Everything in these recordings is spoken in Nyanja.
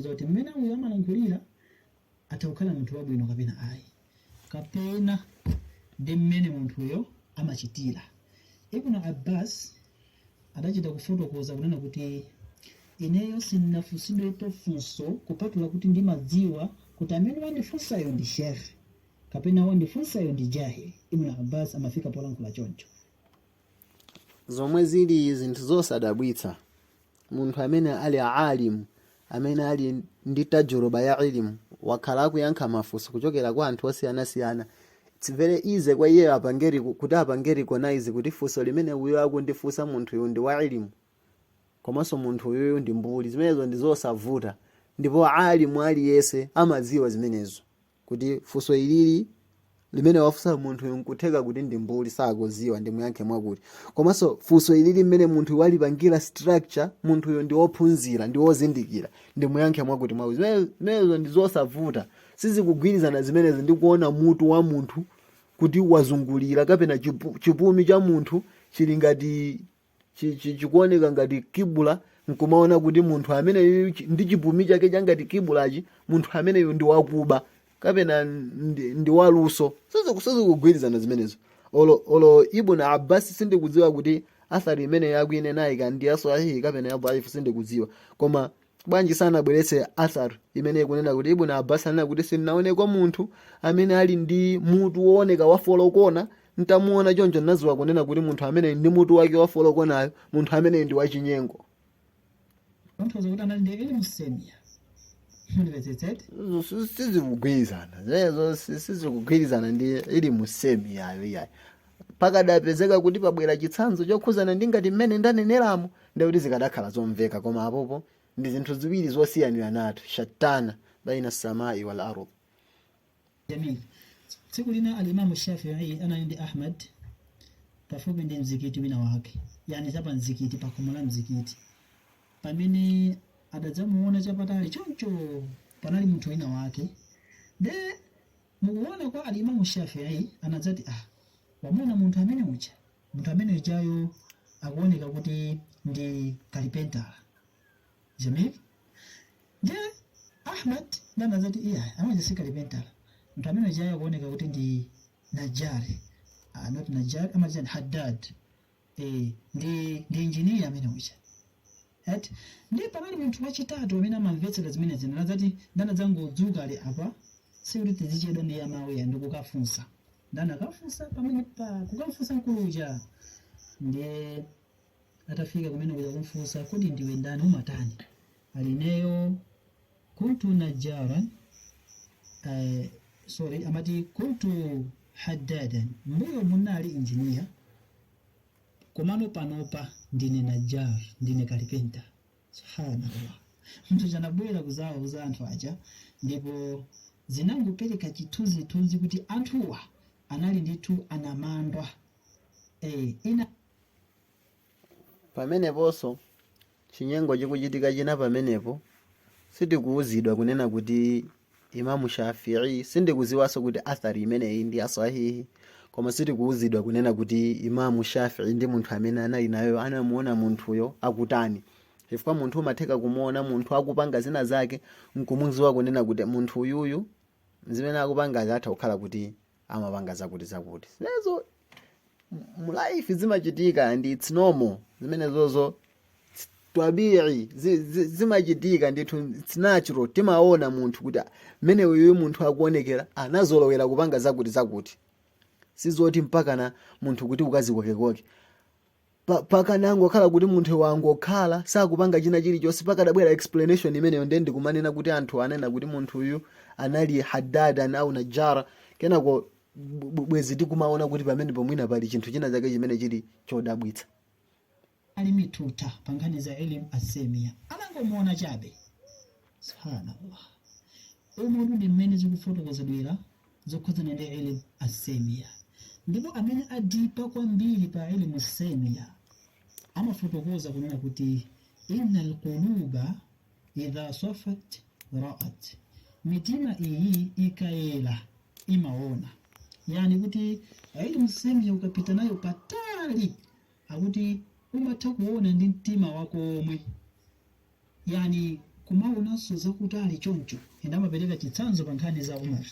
zoti mmene uyo amalankhulira atha kukhala munthu wabwino kapena ayi kapena ndi mmene munthuyo amachitira ibn abbas adachita kufotokoza kunena kuti ineyo sindinafunsidwepo funso kupatula kuti ndimadziwa kuti amene wandifunsayo ndi shekhe kapena wandifunsayo ndi jahili ibn abbas amafika polankhula choncho zomwe zili zinthu zosadabwitsa munthu amene ali alimu amene ali ndi tajuruba ya ilimu wakhala akuyankha mafunso kuchokera kwa anthu osiyanasiyana it's very easy kwa iyeyo apange reco- kuti apange recognize kuti funso limene uyo akundifunsa munthu uyu ndi wa ilimu komanso munthu uyuyu ndi mbuli zimenezo ndi zosavuta ndipo alimu aliyense amadziwa zimenezo kuti funso ilili limene wafunsa munthuyu nkutheka kuti ndi mbuli sakuziwa ndimuyankhe mwakuti komanso funso ilili limene munthuyo walipangira structure munthuyo ndi wophunzira ndi wozindikira ndimuyankhe mwakuti mwakuti Zimene- zimenezo ndi zosavuta sizikugwirizana zimenezi ndi kuona mutu wa munthu kuti wazungulira kapena chipu- chipumi cha munthu chili ngati chi- chi- chikuoneka ngati kibula nkumaona kuti munthu ameneyu chi- ndi chipumi chake changati kibulachi munthu ameneyu ndi wakuba kapena ndi, ndi waluso Siziku- sizikugwirizana zimenezo olo, olo ibn abbas sindikudziwa kuti athari imeneyo akuinenayi ndi ya sahihi kapena ya dhaifu sindikudziwa koma bwanji sanabweretse athar imene ikunena kuti ibn abbas anena kuti sindinaonekopo munthu amene ali ndi mutu wooneka wafolokona ntamuona choncho ndinadziwa kunena kuti munthu ameneyi ndi mutu wake wafolokonayo munthu ameneyi ndi wachinyengo munthu kuti anali ndi ilimu semiya mundimvetsetse sizikugwirizana zimenezo sizikugwirizana ndi ilimu semiyayo iyayi pakadapezeka kuti pabwera chitsanzo chokhuzana ndi ngati mmene ndaneneramo ndekuti zikadakhala zomveka koma apopo ndi zinthu ziwiri zosiyaniranatu shattana baina samai wal ardh jamii tsiku lina alimamu shafii anali ndi ahmad pafupi ndi mzikiti wina wake yani zapa mzikiti pakhomo la mzikiti pamene adadzamuona chapatali choncho panali munthu wina wake de Mukuona kwa Al Imamu Shafi'i anadzati, Ah wamuona munthu amene uja? Munthu amene ujayo akuoneka kuti ndi kalipentala. Jamil? Nde Ahmad nda anadzati, Iyayi, amene uja si kalipentala. Munthu amene ujayo akuoneka kuti ndi Najjari. Ah, not Najjari, amatchani Haddad. eh, ndi engineer ameneuja eti ndiye pakati munthu wachitatu amene amamvetsera zimenezi anadzati anadzangodzuka ali apa si kuti tizichedwa ndiye mwayi ndi kukafunsa ndani akafunsa pamene pa kukafunsa mkulu uja ndiye atafika kumene kuja kumfunsa kodi ndiwe ndani umatani ali ineyo kuntu najjaran, uh, sorry amati kuntu haddadan mbuyo muno ndinali engineer komano panopa ndine najjar ndine kalipenta subhanallah munthu uja anabwera kuzawauza anthu aja ndipo zinangopereka chithunzithunzi kuti anthuwa anali ndithu anamandwa, eh, ina Pameneponso, chinyengo chikuchitika china pamenepo, sitikuuzidwa kunena kuti Imam Shafi'i, sindikuziwaso kuti athar imeneyi ndi ya swahih, koma sitikuuzidwa kunena kuti Imam Shafi'i ndi munthu amene anali naye anamuona munthuyo akutani. Chifukwa munthu umatheka kumuona munthu akupanga zina zake nkumuziwa kunena kuti munthu uyuyu zimene akupangazi atha kukhala kuti amapanga zakuti zakuti zimenezo mu life zimachitika and it's normal zimenezozo twabii zi- zimachitika ndithu it's natural timaona munthu kuti mmene uyu munthu akuonekera anazolowera kupanga zakuti zakuti sizoti mpakana munthu kuti ukazikokekoke pa- pakanangokhala kuti munthu wangokhala sakupanga china chilichonse pakadabwera explanation imeneyo ndiye ndikumanena kuti anthu anena kuti munthuyu anali hadadan au najara kenako bwezi tikumaona kuti pamenepo mwina pali chinthu china chake chimene chili chodabwitsa ali mi tuta pa nkhani za elimu asemiya amangomuona chabe subhanallah umu ndi mmene zikufotokozedwera zokhudzana ndi ilm as-semiyya. Ndipo amene adipa kwambiri pa ilm as-semiyya amafotokoza kunena kuti, Inna al-quluba idha swafat ra'at. Mitima iyi ikayela imaona. Yani kuti ilm as-semiyya ukapita nayo patali akuti umatha kuona ndi mtima wako omwe. Yani kumaonanso zakutali choncho and amapereka chitsanzo pa nkhani za Umar.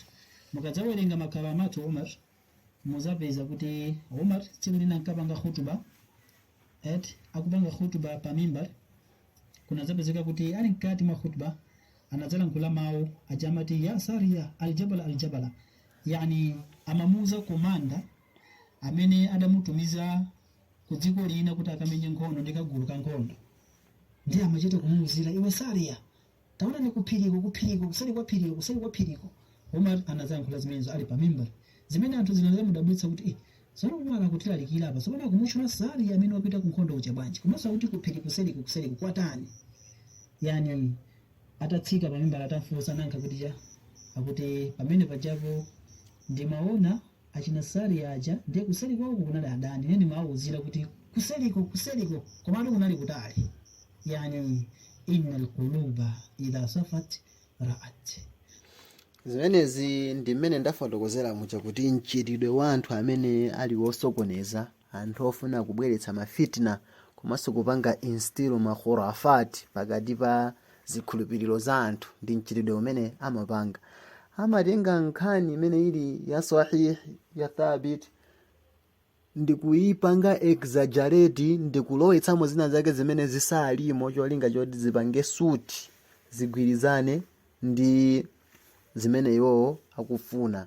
Mukadzawerenga ma karamatu Umar muzapeza kuti Umar tsiku lina ankapanga khutuba eti akupanga khutuba pa mimbar kunadzapezeka kuti ali mkati mwa khutuba anadzalankhula mawu aja amati ya sariya aljabala aljabala yani amamuuza komanda amene adamutumiza ku dziko lina kuti akamenye nkhondo ndi kagulu ka nkhondo ndiye amachita kumuuzira iwe sariya taonani kuphiriko kuphiriko kuseri kwa phiriko kuseri kwa phiriko umar anazayankhula zimenezo ali pa mimbar zimene anthu zinazawadabwitsa kuti eh, zoona umar akutilalikira apa zopano akumutchula sariya amene wapita ku nkhondo uja bwanji komanso akuti kuphiri kuseriko kuseriko kwatani yani atatsika pa mimbar atamfunsa nayankha kuti ja akuti pamene pajapo ndimaona Achina Sariya aja ndiye kuseli kwawoko kunali adani ine ndimawawuzira kuti kuseliko kuseliko komatu kunali kutali yani innal quluba idha safat ra'at. Zimenezi ndi mmene ndafotokozera muja kuti mchitidwe wa anthu amene ali wosokoneza Anthu ofuna kubweretsa ma fitna komanso kupanga instill ma khurafat pakati pa zikhulupiriro za anthu ndi mchitidwe umene amapanga, amatenga nkhani imene ili ya sahih, ya thabit, ndi kuipanga exaggerate ndi kulowetsamo zina zake zimene zisalimo cholinga choti zipange suit, zigwirizane ndi zimene iwowo akufuna.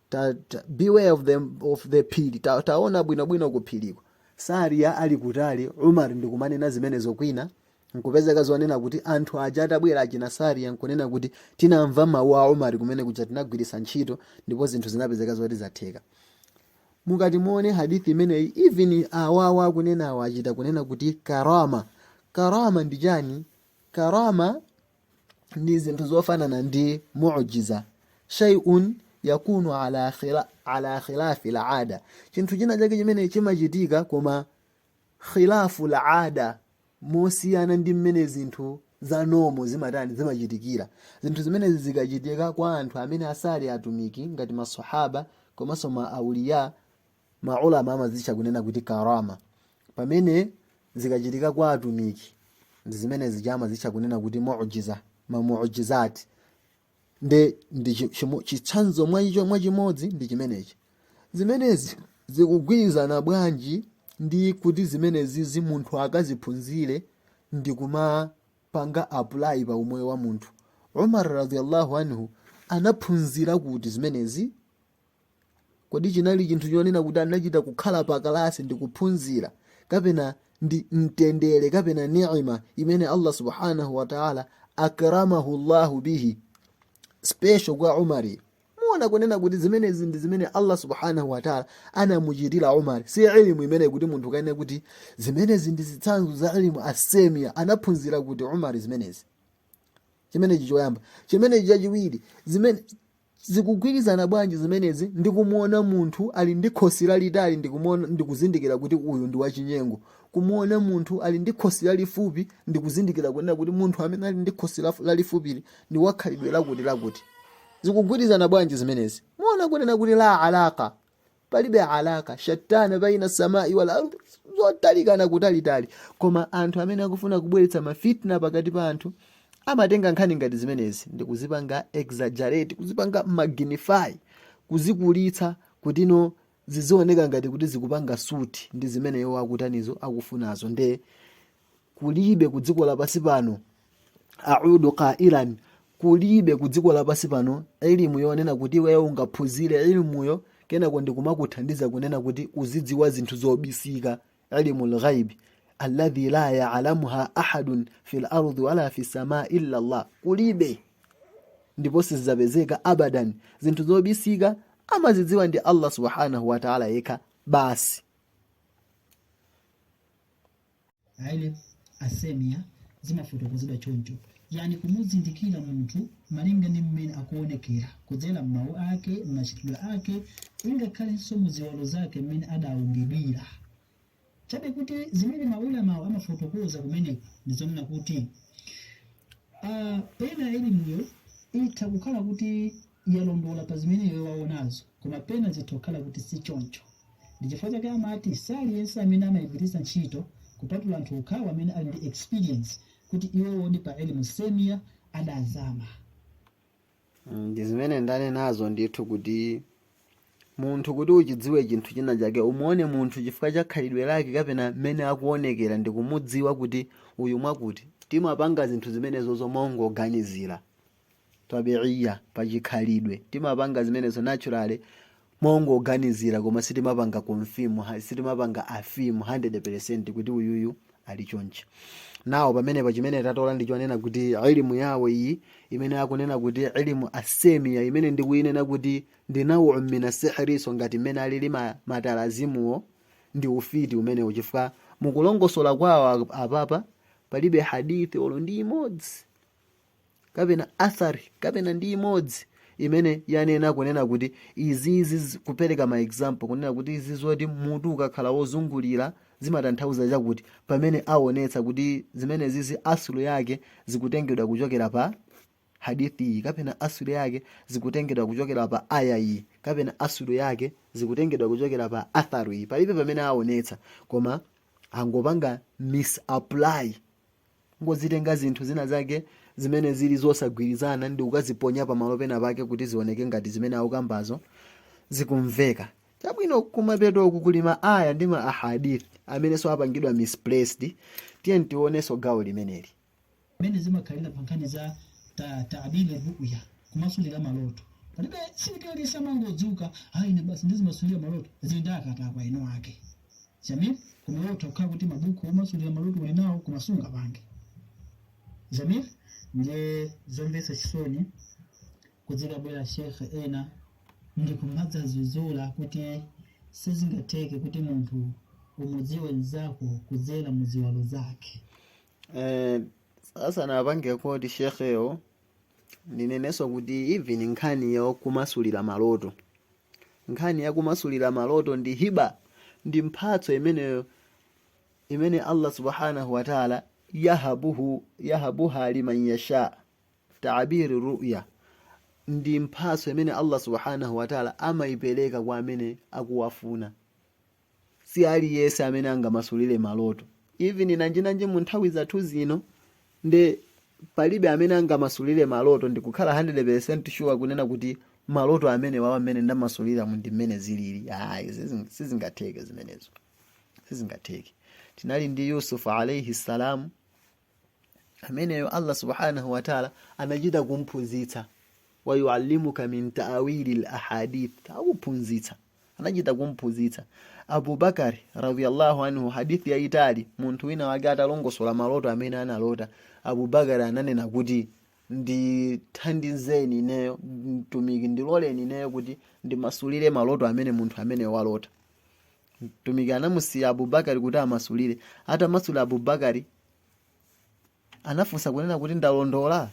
ta, ta, beware of the, of the phiri ta, taona bwinobwino kuphiriko sariya ali kutali umar ndikumanena zimenezo kwina nkupezeka zonena kuti anthu aja atabwera achina sariya nkunena kuti tinamva mawu a umar kumene kuja tinagwiritsa ntchito ndipo zinthu zinapezeka zoti zatheka mukati muone hadithi imeneyi even awawa akunenawo achita kunena kuti karama karama ndi chani karama ndi zinthu zofanana ndi mujiza shay'un yakunu ala khila- ala khilafil aada chinthu china chake chimene chimachitika koma khilaful aada mosiyana ndi mmene zinthu za normal zimatani zimachitikira zinthu zimenezi zikachitika kwa anthu amene asali atumiki ngati masahaba komanso ma auliya maulama amazitcha kunena kuti karama pamene zikachitika kwa atumiki ndi zimene zija amazitcha kunena kuti mujiza mamujizati nde ndi chi- chimo- chitsanzo mwa icho mwa chimodzi ndi chimenechi zimenezi zikugwirizana bwanji ndi kuti zimenezizi munthu akaziphunzire ndi kumapanga apply pa umoyo wa munthu umar radiyallahu anhu anaphunzira kuti zimenezi Kodi chinali chinthu chonena kuti anachita kukhala pa kalasi ndi kuphunzira kapena ndi mtendere kapena ni'ima imene Allah subhanahu wa ta'ala akramahu Allahu bihi special kwa Umari muona kunena kuti zimenezi ndi zimene Allah subhanahu wa ta'ala anamuchitira Umar si ilmu imene kuti munthu akanene kuti zimenezi ndi zitsanzo za ilmu asemia anaphunzira kuti Umar zimenezi chimenechi choyamba chimenechi chachiwiri zimene Zikugwirizana bwanji zimenezi ndi kumuona munthu ali ndi khosi lalitali ndikuzindikira kuti uyu ndi wachinyengo? Kumuona munthu ali ndi khosi lalifupi ndikuzindikira kunena kuti munthu amene ali ndi khosi lafu- lalifupili ndi wakhalidwe lakuti lakuti. Zikugwirizana bwanji zimenezi? Muona kunena kuti la alaka, palibe alaka shattana baina samai wal ardh zotalikana kutalitali koma anthu amene akufuna kubweretsa mafitna pakati pa anthu amatenga nkhani ngati zimenezi ndi kuzipanga exaggerate kuzipanga magnify kuzikulitsa kutino zizioneka ngati kuti zikupanga suti ndi zimene iwo akutanizo akufunazo nde kulibe ku dziko lapansi pano audu qailan kulibe ku dziko lapansi pano ilimu yonena kuti iweyo ungaphunzire ilimuyo kenako ndikumakuthandiza kunena kuti uzidziwa zinthu zobisika ilimu lghaibi alladhi la yalamuha ahadun fi lardi wala fi sama illa llah kulibe ndipo sizidzapezeka abadan zinthu zobisika amazidziwa ndi allah subhanahu wataala yekha basi aile asemia zimafotokozedwa choncho yani kumuzindikira munthu malinga ndi mmene akuonekera kudzera m'mawu ake m'machitidwe ake ingakhalenso mu ziwalo zake mmene adaumbidwira chabe kuti zimene maulamawo amafotokoza kumeneko ndi zonena kuti ah, pena elimuyo itha kukhala kuti Iye alondola pa zimene iyo waonazo, koma pena zitha kukhala kuti si choncho. Ndi chifukwa chake amati si aliyense amene amaigwiritsa ntchito kupatula anthu okhawo amene ali ndi experience kuti iwowodi pa ilm seemiyah adazama. Ndi zimene ndanenazo ndithu kuti munthu kuti uchidziwe chinthu china chake umuone munthu chifukwa cha khalidwe lake kapena mmene akuonekera ndi kumudziwa kuti uyu ngwakuti. Timapanga zinthu zimenezozo mongoganizira. tabi'iyya, pa chikhalidwe. Timapanga zimenezo naturally mongoganizira koma sitimapanga confirm, ha- sitimapanga affirm 100% kuti uyuyu ali chonchi. Nde pamenepa chimene tatola ndi chonena kuti ilimu yawo iyi imene akunena kuti ilimu asemiya imene ndikuyinena kuti ndi nawu mina sihriso ngati mmene alili ma- matalazimuwo ndi ufiti umenewo chifukwa mukulongosola kwawo apapa palibe hadithi olo ndi imodzi kapena athar kapena ndi imodzi imene yanena kunena kuti izizi zi- kupereka ma example kunena kuti izi zoti mutu ukakhala wozungulira zimatanthauza chakuti pamene aonetsa kuti zimenezizi asulu yake zikutengedwa kuchokera pa hadithi iyi kapena asulu yake zikutengedwa kuchokera pa aya iyi kapena asulu yake zikutengedwa kuchokera pa atharu iyi palibe pamene aonetsa koma angopanga misapply kungozitenga zinthu zina zake zimene zili zosagwirizana ndi kukaziponya pamalo pena pake kuti zioneke ngati zimene akukambazo zikumveka chabwino kumapeto uku kuli ma aya ndi ma ahadith amenenso apangidwa misplaced tiye tionenso gawo limeneli mmene zimakhalira pa nkhani za ta- taabiri ruya kumasulira maloto palibe sikuti aliyense amangodzuka ayi ine basi ndizimasulira maloto zili ndi akatakwe eni ake Jamil, koma iwe utha kukhala kuti mabuku omasulira maloto uli nawo koma sungapange. Jamil, ndiye zomvetsa chisoni kudzikabwera Sheikh ena ndikumadzadzudzula kuti sizingatheke kuti munthu umudziwe nzako kudzera mu ziwalo zake. Eh, asanapange koti shekhewo ndinenenso kuti even nkhani yokumasulira maloto Nkhani ya kumasulira maloto ndi hiba, ndi mphatso imene imene Allah subhanahu wa ta'ala yahabuhu yahabuha liman yasha. Ta'bir ru'ya ndi mphatso imene Allah subhanahu wa ta'ala amaipereka kwa amene akuwafuna. si aliyese amene angamasulire maloto even nanjinanji mu nthawi zathu zino nde palibe amene angamasulire maloto ndikukhala 100 percent sure kunena kuti maloto amenewawa mmene ndamasuliramu ndi mmene zilili ayi sizing- sizingatheke zimenezo sizingatheke tinali ndi yusuf alaihi salam ameneyo allah subhanahu wataala anachita kumphunzitsa wayuallimuka min taawilil ahadith akuphunzitsa anachita kumphunzitsa abubakari radiallahu anhu hadithi yayitali munthu wina wake atalongosola maloto amene analota abubakari ananena kuti ndithandizeni ineyo mtumiki ndiloleni ineyo kuti ndimasulire maloto amene munthu amene walota mtumiki anamusiya abubakari kuti amasulire atamasulira abubakari anafunsa kunena kuti ndalondola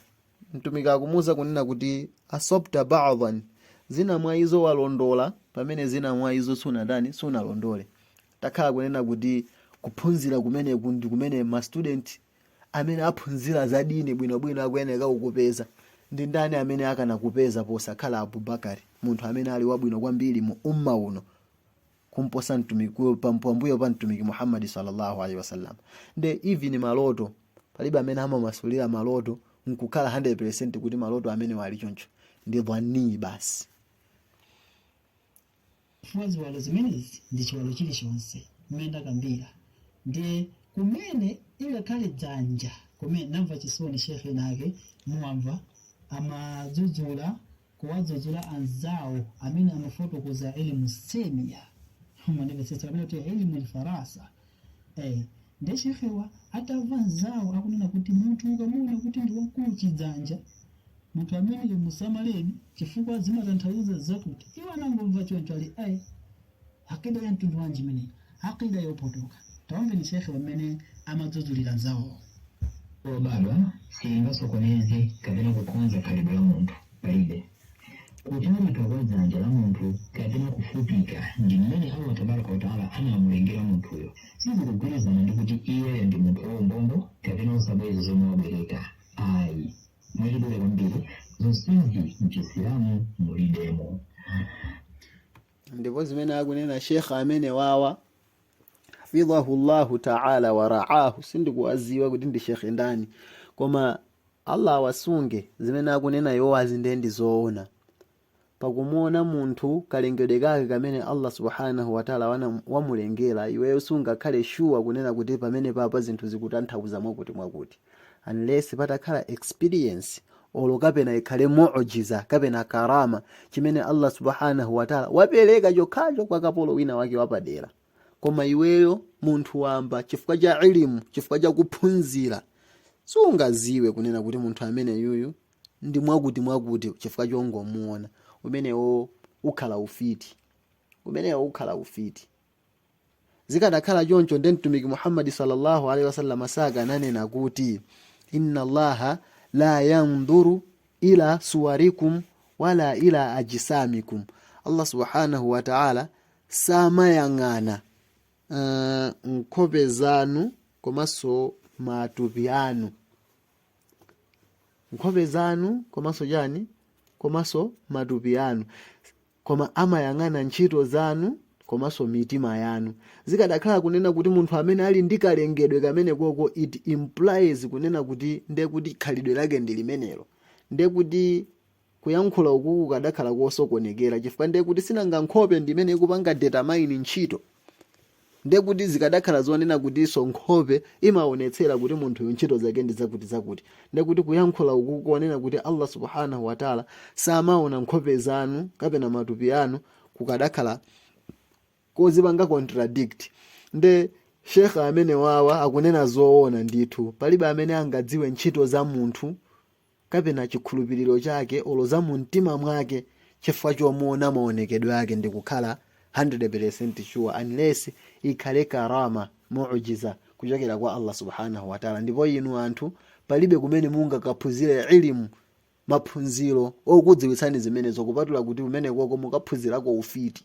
mtumiki akumuuza kunena kuti asabta badan zina mwa izo walondola pamene zina mwa izo sunatani sunalondole takhala kunena kuti kuphunzira kumeneku ndi kumene mastudenti amene aphunzira za dini bwinobwino akuyeneka kukupeza ndi ndani amene akanakupeza posakhala abubakari munthu amene ali wabwino kwambiri mu umma uno kumposa mtumiki pambuyo pa mtumiki muhammadi sallallahu alaihi wasallam nde even maloto palibe amene amamasulira maloto nkukhala 100 percent kuti maloto amenewa ali choncho ndi dhwanii basi chifukwa ziwalo zimenezi ndi chiwalo chilichonse mmene ndakambira ndiye kumene ingakhale dzanja kumene namva chisoni shekhe ena ake muwamva amadzudzula kuwadzudzula anzawo amene amafotokoza ilmu semia mwandimvetsetsa kapena kuti ilmu alfirasa eh nde shekhewa atawamva anzawo akunena kuti munthu ukamuona kuti ndi wakulu chidzanja muntu ameneyo musamaleni chifukwa zimatanthauza zakuti iwo anangomva choncho ali ayi Aqeeda ya mtundu wanji imeneyi? Aqeeda yopotoka. Tawamveni Sheikh-wa mmene amadzudzulira nzawowo. yobadwa siyingasokoneze kapena kukonza khalidwe la munthu. Palibe kutalika kwa dzanja la munthu kapena kufupika ndi mmene Allah Tabaraka wa Taala anamulengera munthuyo sizikugwirizana ndi kuti iyeyo ndi munthu waumbombo kapena osabweza zomwe wabwereka ayi. Mwachidule kwambiri, zonsezi m'Chisilamu mulibemo. ndipo zimene akunena sheikh amene wawa hafidhahu llahu taala waraahu sindikuwadziwa kuti ndi shekhe ndani koma allah awasunge zimene akunena iwowa zinazo ndi zoona pakumuona munthu kalengedwe kake kamene allah subhanahu wataala wana- wamulengera iweyo sungakhale shuwa kunena kuti pamene papa zinthu zikutanthauza mwakuti mwakuti unless patakhala experience olo kapena ikhale mu'jiza kapena karama chimene allah subhanahu wataala wapereka chokhacho kwa kapolo wina wake wapadera koma iweyo munthu wamba chifukwa cha ilimu chifukwa cha kuphunzira sungaziwe kunena kuti munthu amene yuyu ndi mwakuti mwakuti chifukwa chongomuona umenewo ukhala ufiti umenewo ukhala ufiti zikadakhala choncho nde mtumiki muhammadi sallallahu alaihi wasallam sakananena kuti inna allaha la yandhuru ila suwarikum wala ila ajisamikum allah subhanahu wa ta'ala samayang'ana uh, nkhope zanu komanso matupi anu nkhope zanu komanso chani komanso matupi anu Koma amayang'ana ntchito zanu komanso mitima yanu. Zikadakhala kunena kuti munthu amene ali ndi kalengedwe kamenekoko it implies kunena kuti ndiye kuti khalidwe lake ndi limenelo. Ndiye kuti kuyankhula ukuku kukadakhala kosokonekera chifukwa ndiye kuti sinanga nkhope ndi imene ikupanga determine ntchito. Ndiye kuti zikadakhala zonena kutinso nkhope imaonetsera kuti munthuyo ntchito zake ndi zakutizakuti, ndiye kuti kuyankhula uku konena kuti Allah Subhaanahu wa Ta'la samaona nkhope zanu kapena matupi anu kukadakhala kozipanga contradict. Ndiye Sheikh amenewawa akunena zoona ndithu. Palibe amene angadziwe ntchito za munthu. kapena chikhulupiliro chake olo za mu mtima mwake chifukwa chomwe waona maonekedwe ake ndikukhala 100% sure unless ikhale karama, mu'jiza, kuchokera kwa Allah Subhana Watala ndipo inu anthu palibe kumene mungakaphunzire ilm, maphunziro, okudziwitsani zimenezo kupatula kuti kumenekoko mukaphunzirako ufiti.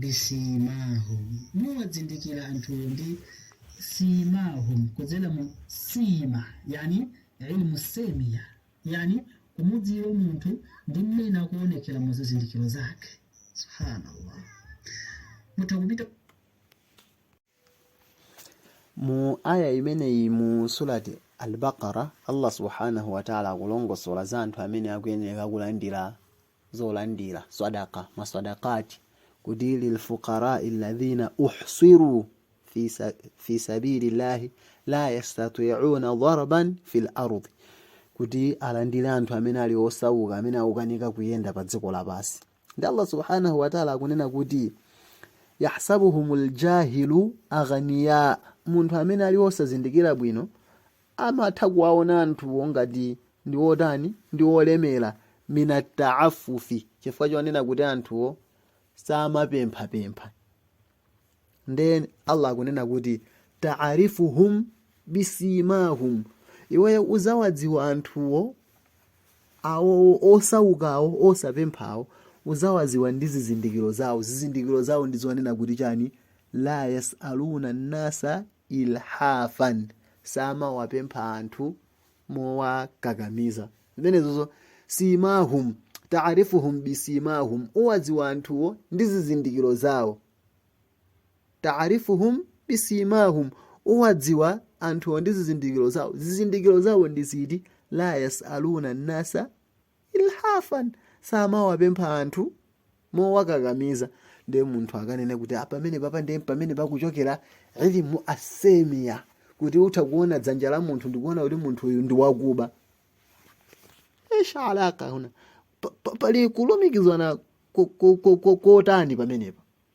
bisimahum mumawazindikira anthuwo ndi simahum kudzera mu sima yani ilmu semia yani kumudziwa munthu ndi mmene akuonekera mu zizindikiro zake subhanallah mutha kupita Mu ayah imeneyi mu Surat Al-Baqara, Allah Subhanahu wa Ta'ala akulongosola za anthu amene akuyeneka kulandira zolandira, sadaqa, maswadaqat, kuti lil fuqara'i alladhina uhsiru fi sabilillahi la yastati'una darban fil ardh. Kuti alandire anthu amene ali osauka, amene akukanika kuyenda pa dziko lapansi. ndi allah subhanahu wataala akunena kuti yahsabuhum ljahilu aghaniya munthu amene ali wosazindikira bwino amatha kuwaona anthuwo ngati ndi wotani ndi wolemera minataafufi chifukwa chonena kuti anthuwo samapemphapempha nde allah akunena kuti taarifuhum bisimahum iweyo uzawadziwa anthuwo awowo osaukawo osapemphawo uzawadziwa ndi zizindikiro zawo zizindikiro zawo ndi zonena kuti chani la yasaluna nasa ilhafan samawapempha anthu mowakakamiza zimenezozo simahum taarifuhum bisimahum uwadziwa anthuwo ndi zizindikiro zawo taarifuhum bisimahum uwadziwa anthuwo ndi zizindikiro zawo zizindikiro zawo ndi ziti la yasaluna nasa ilhafan, samawapempha anthu mowakakamiza ndiye munthu akanene kuti ah, pamenepapa ndiye pamene pakuchokera ilimu asemiya kuti utha kuona dzanja la munthu ndikuona kuti munthu uyu ndi wakuba esha alaka huna pali kulumikizana kotani pamenepa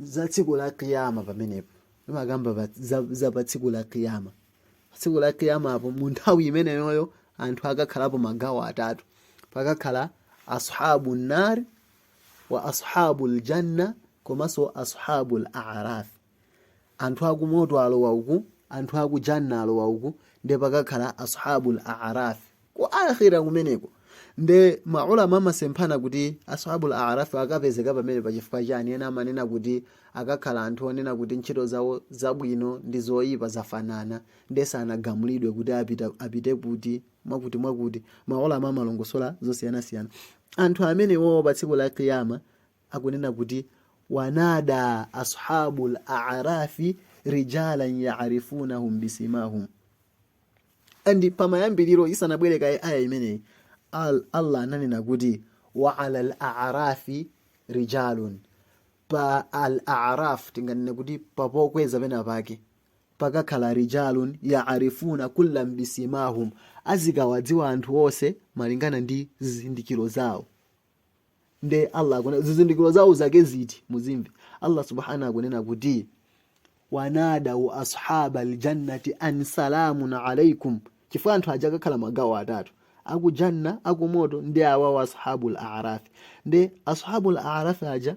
za tsiku la kiyama pamenepo imakamba pa- za, za pa tsiku la kiyama pa tsiku la kiyama apo mu nthawi imeneyoyo anthu akakhalapo magawo atatu pakakhala ashabu nar wa ashabu ljanna komanso ashabu laraf Anthu a ku moto alowa uku, anthu a ku Jannah alowa uku, nde pakakhala Ashabul A'araf ku Aakhirah kumeneko. Nde ma Ulama amasemphana kuti Ashabul A'araf wa akapezeka pamenepa chifukwa chani, ena amanena kuti akakhala anthu onena kuti ntchito zawo zabwino ndi zoipa zafanana nde sanagamulidwe kuti apite kuti, mwakuti mwakuti, ma Ulama amalongosola zosiyanasiyana. Anthu amenewowo pa tsiku la Qiyamah akunena kuti wanada ashabul a'rafi rijalan ya'rifunahum bisimahum and pamayambiriro isanabwere kaye aya imeneyi allah ananena kuti wa ala al arafi rijalun pa al araf tinganene kuti papokweza pena pake pakakhala rijalun yaarifuna kullam bisimahum azikawadziwa anthu onse malingana ndi zizindikiro zawo nde allah akunena zizindikiro zawo zake ziti muzimve allah subhanahu akunena kuti wanadau ashaba aljannati an salamun alaikum chifukwa anthu aja akakhala magawo atatu akujanna akumoto ndi awawo ashabul arafi nde ashabul arafi aja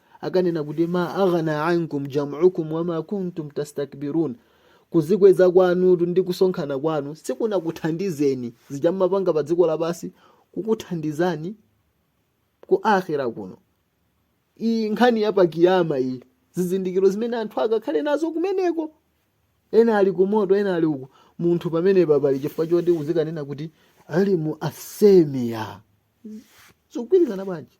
akanena kuti ma aghna ankum jam'ukum wama kuntum tastakbirun kuzikweza kwanu ndi kusonkhana kwanu sikunakuthandizeni zija mmapanga pa dziko lapansi sizikuthandizani ku akhira kuno iyi nkhani ya pakiyama iyi zizindikiro zimene anthu akakhale nazo kumeneko ena ali kumoto ena ali uku munthu pamenepa pali chifukwa choti uzikanena kuti ilimu asemiya zikugwirizana bwanji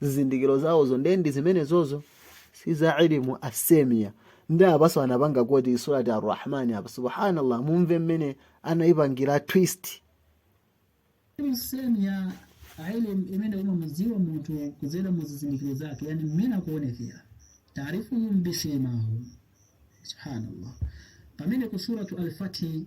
zizindikiro zawozo ndiye ndi zimenezozo si za ilimu asemiya ndi apaso anapanga koti surati arrahmani apa subhanallah mumve mmene anayipangira twist ilimu semiya ilimu imene umamudziwa munthu kudzera mu zizindikiro zake yani mmene akuonekera taarifuhum bisimahum subhanallah pamene ku suratu alfatihi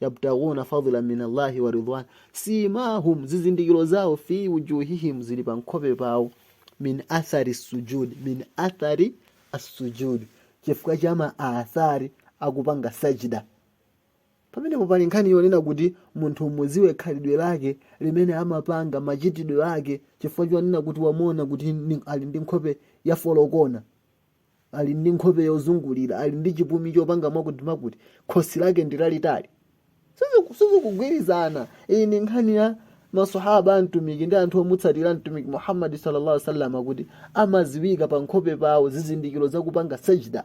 yabtaguna fadhlan min Allahi wa ridwan simahum, zizindikiro zawo fi wujuhihim, zili pa nkhope pawo min athari sujud min athari assujud, chifukwa cha ma athari akupanga sajida pamenepo pali nkhani yonena kuti munthu umudziwe khalidwe lake limene amapanga machitidwe ake chifukwa chonena kuti wamuona kuti ali ndi nkhope yafolokona ali ndi nkhope yozungulira ali ndi chipumi chopanga mwakutimakuti khosi lake ndi lalitali Siziku- sizikugwirizana iyi ndi nkhani ya masahaba a mtumiki ndi anthu omutsatira mtumiki muhammadi sallallahu alaihi wasallam akuti amaziwika pa nkhope pawo zizindikiro zakupanga sajda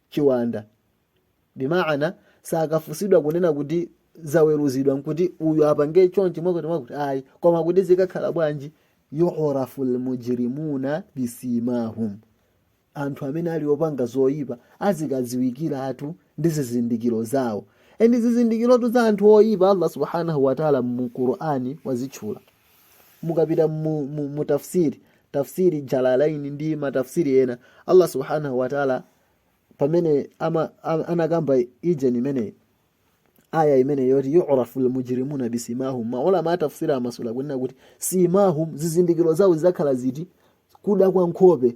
chiwanda bimaana sakafunsidwa kunena kuti zaweruzidwa nkuti uyu apange chonchi mwakuti mwakuti ayi koma kuti zikakhala bwanji yurafu lmujrimuna bisimahum anthu amene ali opanga zoyipa azikadziwikiratu ndi zizindikiro zawo endi zizindikirotu za anthu oyipa allah subhanahu wataala mu qur'ani wazitchula mukapita mu, mu, mu tafsir tafsiri jalalaini ndi matafsiri ena allah subhanahu wataala pamene ama, ama, anakamba ijeni imeneyi aya imeneyi yoti yurafu lmujrimuna bisimahum maulama a tafsiri amasula kunena kuti simahum zizindikiro zawo zizakhala ziti kuda kwa nkhope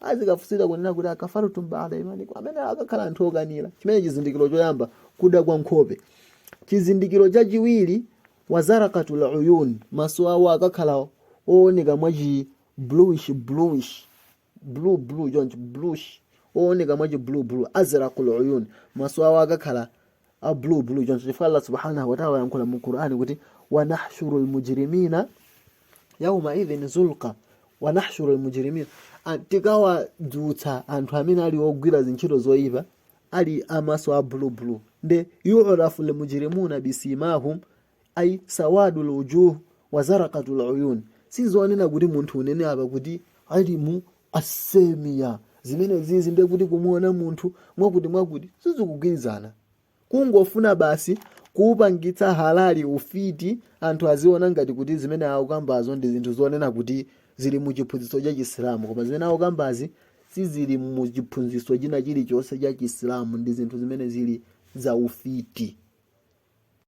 azikafunsidwa kunena kuti akafartum baada imanikum amene akakhala anthu okanira chimene chizindikiro choyamba kuda kwa nkhope chizindikiro chachiwiri wazarakatul uyun maso awo akakhala ooneka mwachi bluish bluish blue blue chonchi bluish ooneka mwachi blue blue azrakul uyun maso awo akakhala a blue blue choncho chifukwa Allah subhanahu wa ta'ala ayankhula mu Qur'an kuti wa nahshurul mujrimina yawma idhin zurqa wa nahshurul mujrimina tikawadzutsa anthu amene ali ogwira zintchito zoyipa ali amaso a blue blue nde yu'rafu al mujrimuna bisimahum ai sawadul wujuh wa zaraqatul uyun sizonena kuti munthu unene apa kuti ilmu asemiya zimene zizi ndiye kuti kumuona munthu mwakuti mwakuti sizikugwirizana kungofuna basi kupangitsa halali ufiti anthu aziona ngati kuti zimene akukambazo ndi zinthu zonena kuti zili mu chiphunzitso cha chisilamu koma zimene akukambazi sizili mu chiphunzitso china chilichonse cha chisilamu ndi zinthu zimene zili za ufiti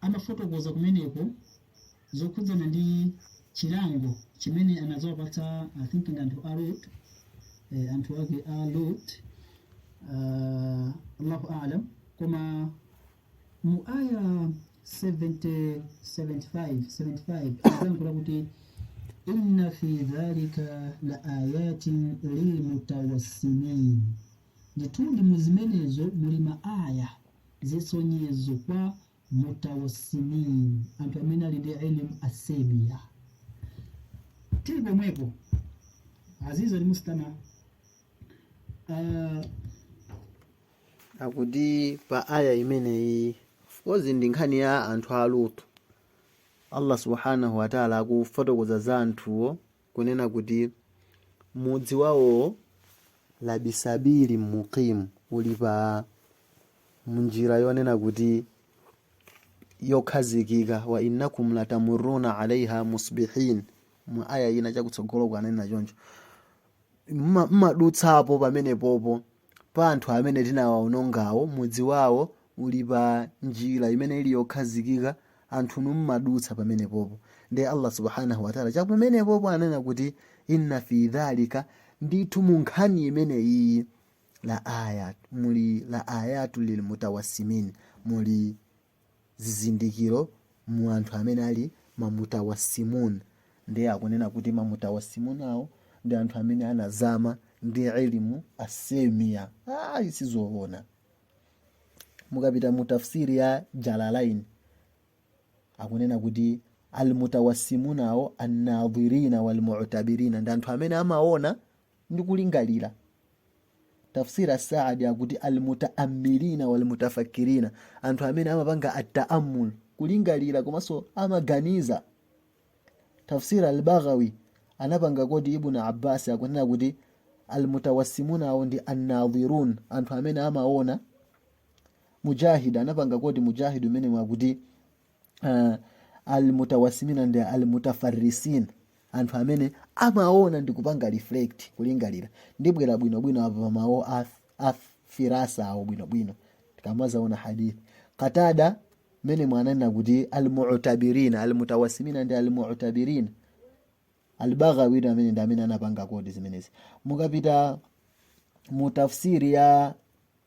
Anafotokoza kumeneko zokhudzana ndi chilango chimene anadzawapatsa I think ndi anthu a Lot, eh, anthu ake a Lot, wallahu a'lam. Koma mu aya 70 75 75 anadzayankhula kuti inna fi dhalika la ayatin lilmutawassimin, ndithudi mu zimenezo muli maaya zisonyezo kwa mutawassimin, anthu amene ali ndi ilm asemiya. Tili pomwepo Azizi al-Mustami uh, akuti pa aya imeneyi of course ndi nkhani ya anthu a lutu allah subhanahu wataala akufotokoza za anthuwo kunena kuti mudzi wawowo labisabili muqim uli pa mnjira yonena kuti yokhazikika wa innakum latamuruna alaiha musbihin mu aya ina chakutsogolo kwake ananena choncho mmadutsapo pamenepopo Pa anthu amene tinawaonongawo, mudzi wawo uli pa njira imene ili yokhazikika, anthunu mumadutsa pamenepopo. Ndiye Allah Subhaanah wa Ta'la chapamenepopo ananena kuti, Inna fii dhalika, ndithu mu nkhani imeneyiyi, la aaya, muli la aayatun lil mutawassimin, muli zizindikiro mu anthu amene ali mamutawassimun ndiye akunena kuti mamutawassimun awo ndi anthu amene anazama ndi ilmu as-simiya ayi sizoona mukapita mu tafsiri ya jalalain akunena kuti almutawassimun awo annadhirina walmutabirina ndi anthu amene amaona ndi kulingalira. Tafsir as-Saadi akuti al-mutaammilina wal-mutafakkirina, anthu amene amapanga at-taammul, kulingalira komanso amaganiza. Tafsir al-Baghawi anapanga koti Ibn Abbas akunena kuti al-mutawassimuna awo ndi an-nadhirun, anthu amene amaona. Mujahid anapanga koti Mujahid m'mene akuti uh, almutawassimina ndi almutafarrisin anthu amene amaona ndi kupanga reflect kulingalira ndibwera bwinobwino apa pa mawu a firasa awo bwinobwino tikamazaona hadithi katada m'mene ananena kuti almutabirina almutawassimina ndi almutabirina albaghawi amene ndi amene anapanga koti zimenezi mukapita mu tafsiri ya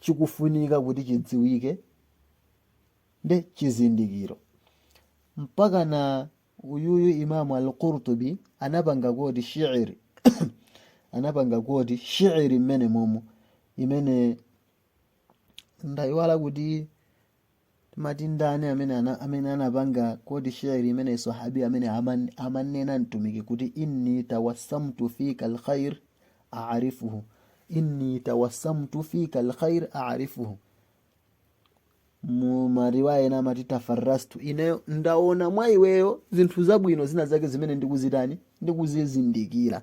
chikufunika kuti chidziwike nde chizindikiro mpakana uyuyu imamu al-Qurtubi anapanga koti shi'iri anapanga koti shi'iri mmene momo imene ndayiwala kuti timati ndani amene ana, amene anapanga koti shi'iri imene swahabi amene aman, amanena mtumiki kuti inni tawassamtu fika alkhair aarifuhu inni tawassamtu fika alkhair aarifuhu mu mariwaya ena amati tafarrastu ineyo ndaona mwa iweyo zinthu zabwino zina zake zimene ndikuzitani ndikuzizindikira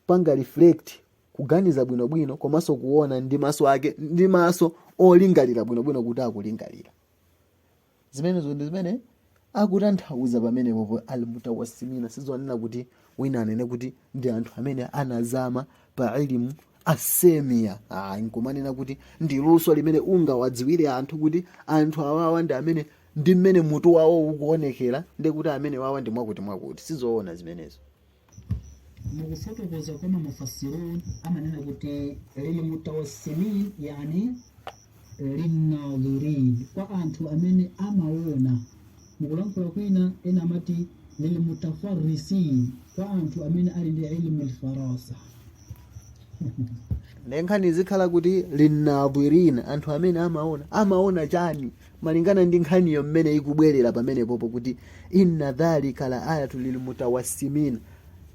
kupanga reflect kuganiza bwinobwino komanso kuona ndi maso ake ndi maso olingalira bwinobwino kuti akulingalira zimenezo ndi zimene akutanthauza pamenepopo almutawassimina sizonena kuti wina anene kuti ndi anthu amene anazama pa ilimu as-simiya ayi nkumanena kuti ndi luso limene ungawadziwire anthu kuti anthu awawa ndi amene ndi mmene mutu wawo ukuonekera ndi kuti amene awawa ndi mwakuti mwakuti sizoona zimenezo mukufotokoza kwa mamufassirun amanena kuti lilmutawassimin yani linnadhirin kwa anthu amene amaona mukulankhula kwina ena amati lilmutafarrisin kwa anthu amene ali ndi ilmu lfarasa ndenkhani zikhala kuti linnadhirin anthu amene amaona amaona chani malingana ndi nkhaniyo mmene ikubwerera pamenepopo kuti inna fi dhalika la ayatin lilmutawassimina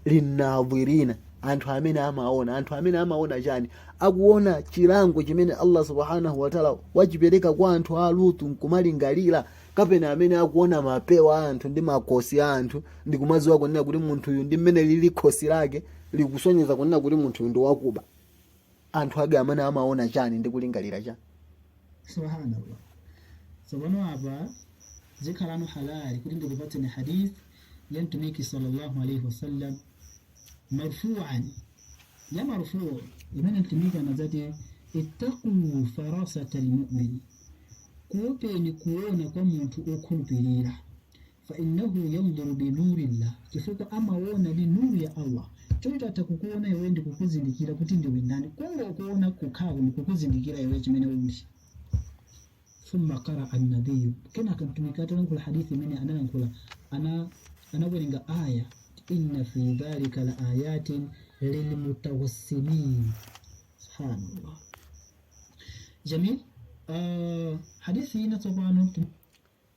linnadhirina anthu amene amaona anthu amene amaona chani akuona chilango chimene allah subhanahu wataala wachipereka kwa anthu a lutu nkumalingalira kapena amene akuona mapewa a anthu ndi makosi a anthu ndi kumadziwa kunena kuti munthuyu mmene lili khosi lake likusonyeza kunena kuti munthuyu ndi wakuba anthu ake amene amaona chani ndi kulingalira chani subhanallah tsopano apa zikhalano halali kuti ndikupatseni hadith ya mtumiki sallallahu alaihi wasallam marfuan ya marfuu imene mtumiki anadzati ittaqu farasata lmumin kuopeni kuona kwa munthu okhulupirira Fa innahu yanduru bi nurillah, chifukwa amaona ndi nuru ya Allah. Choncho atha kukuona iwe ndi kukuzindikira kuti ndiwe ndani. Kungokuona kokhako ndi kukuzindikira iwe chimene uli. Thumma qaraa an-nabiyyu, kenaka Mtumiki atalankhula hadithi imene analankhula ana anawerenga aya inna fi dhalika la ayatin lilmutawassimin. Subhanallah. Jamil, uh, hadithi ina tsopano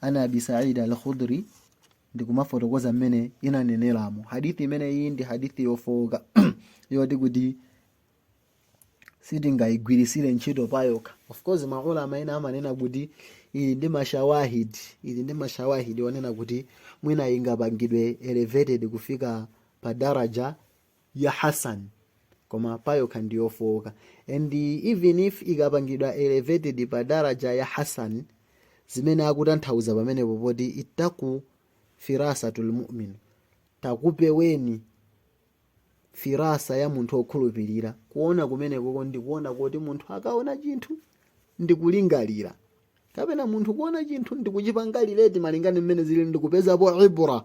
an abi said al khudri ndikumafotokoza mmene ananeneramo hadithi imene iyi ndi hadithi yofowoka yoti kuti sitingayigwirisire ntchito payokha of course maulama ena amanena kuti ili ndi mashawahid ili ndi mashawahid onena kuti mwina ingapangidwe elevated kufika pa daraja ya Hasan koma payokha ndi yofowoka and even if ikapangidwa elevated pa daraja ya Hasan zimene akutanthauza pamenepo poti ittaku firasatal mu'min takupeweni firasa ya munthu okhulupirira kuona kumenekoko ndi kuona koti munthu akaona chinthu ndi kulingalira kapena munthu kuona chinthu ndi kuchipangalireti malingana ndi mmene zili ndi kupezapo ibra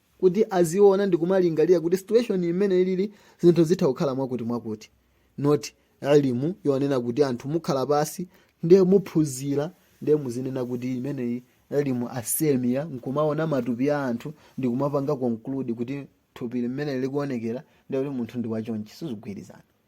kuti aziona ndikumalingalira kuti situation imene ilili zinthu zitha kukhala mwakuti mwakuti not ilimu yonena kuti anthu mukhala pansi ndiye muphunzira ndiye muzinena kuti imeneyi ilimu assimiya nkumaona matupi a anthu ndikumapanga conclude kuti thupi mmene likuonekera ndiye kuti munthu ndi wachonchi sizikugwirizana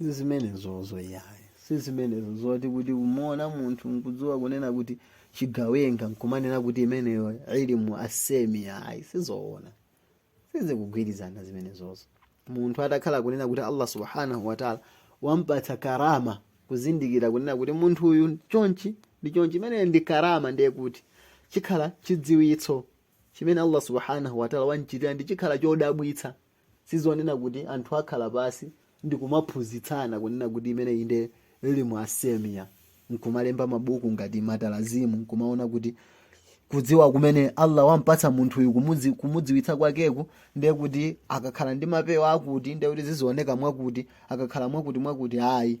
zimenezozo yayi si zimenezo zoti kuti umaona munthu nkudziwa kunena kuti chigawenga nkumanena kuti imeneyo ilm as-semia ayi sizoona sizikugwirizana zimenezozo munthu atakhala kunena kuti allah subhanahu wataala wampatsa karama kuzindikira kunena kuti munthu uyu chonchi ndi chonchi imeneyo ndi karama nde kuti chikhala chidziwitso chimene allah subhanahu wataala wamchitira ndi chikhala chodabwitsa Sizonena kuti anthu akhala pansi ndikumaphunzitsana kunena kuti imeneyi nde ilm as-semia nkumalemba mabuku ngati matalazimu nkumaona kuti kudziwa kumene Allah wampatsa munthuyu kumudziwitsa kwakeku nde kuti akakhala ndi mapewa akuti nde kuti zizioneka mwakuti akakhala mwakuti mwakuti ayi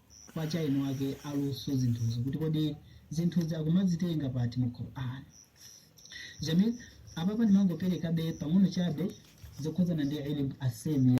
akuchita eni ake aluso zinthuzi kuti kodi zinthuzi akumazitenga pati mu Qur'an jamil apapa ndimangoperekabe pang'ono chabe zokhudzana ndi ilm as-semia